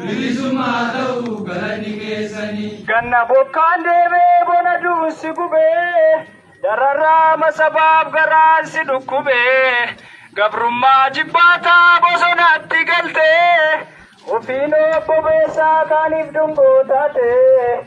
Bilisumma haa ta'u galanni keessani. Ganna bokkaan deebee bona duunsi gubee dararraama sabaaf garaan si dhukkubee gabrummaa jibbaataa bosonaatti galtee ofiin obbobeessaa kaaniif dungoo taatee.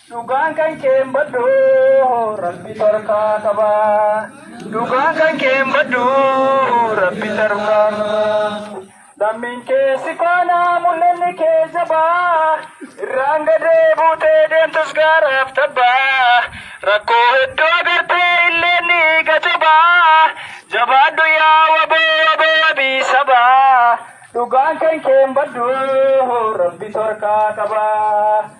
Dhugaan kan kee hin baddu rabbi tarkaa qaba. Dhugaan kan kee hin baddu rabbi tarkaa qaba. Lammiin kee si faana mul'anni kee jabaa. Irraan gadee buutee deemtus gaaraaf tabbaa. Rakkoo hedduu agartee illee ni gajabaa. Jabaadhu yaa waboo waboo wabii sabaa. Dhugaan kan kee hin baddu rabbi tarkaa qaba.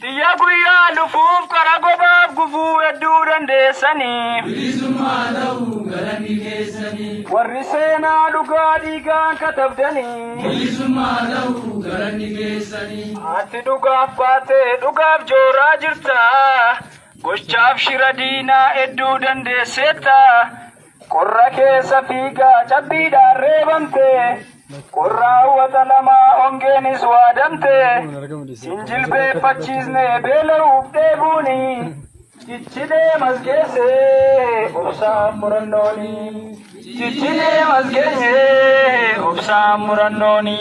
Tiyya guyyaa dhufuuf kara gobaaf gufuu hedduu dandeessanii. Bilisummaa ta'uu galanni keessanii. Warri seenaa dhugaa dhiigaan katabdanii. Bilisummaa ta'uu galanni keessanii. Ati dhugaaf baatee dhugaaf jooraa jirta. Gochaaf shira diinaa hedduu dandeesseetta. Qorra keessa fiigaa cabbiidhaan reebamte, qorra hawwata lamaa hongeenis waadamte, sin jilbeeffachiisne beela'uuf dheebuuni, cichi deemas geesse obsaaf murannooni, cichi deemas geesse obsaaf murannooni,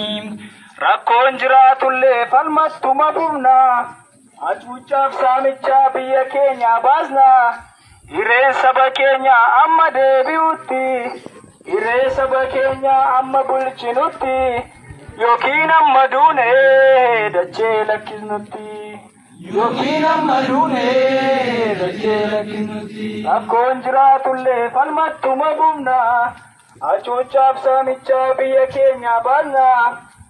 rakkoon jiraatullee falmas tuma fufna. Hacuuccaaf saamichaa biyya keenyaa baasna hireen saba keenyaa amma deebi'utti hiree saba keenyaa amma bulchinutti yookiin amma duune dachee lakkisnutti yookiin amma duune dachee lakkisnutti rakkoon jiraatullee falmattuma bufna hacuuccaaf saamichaa biyya keenyaa baasna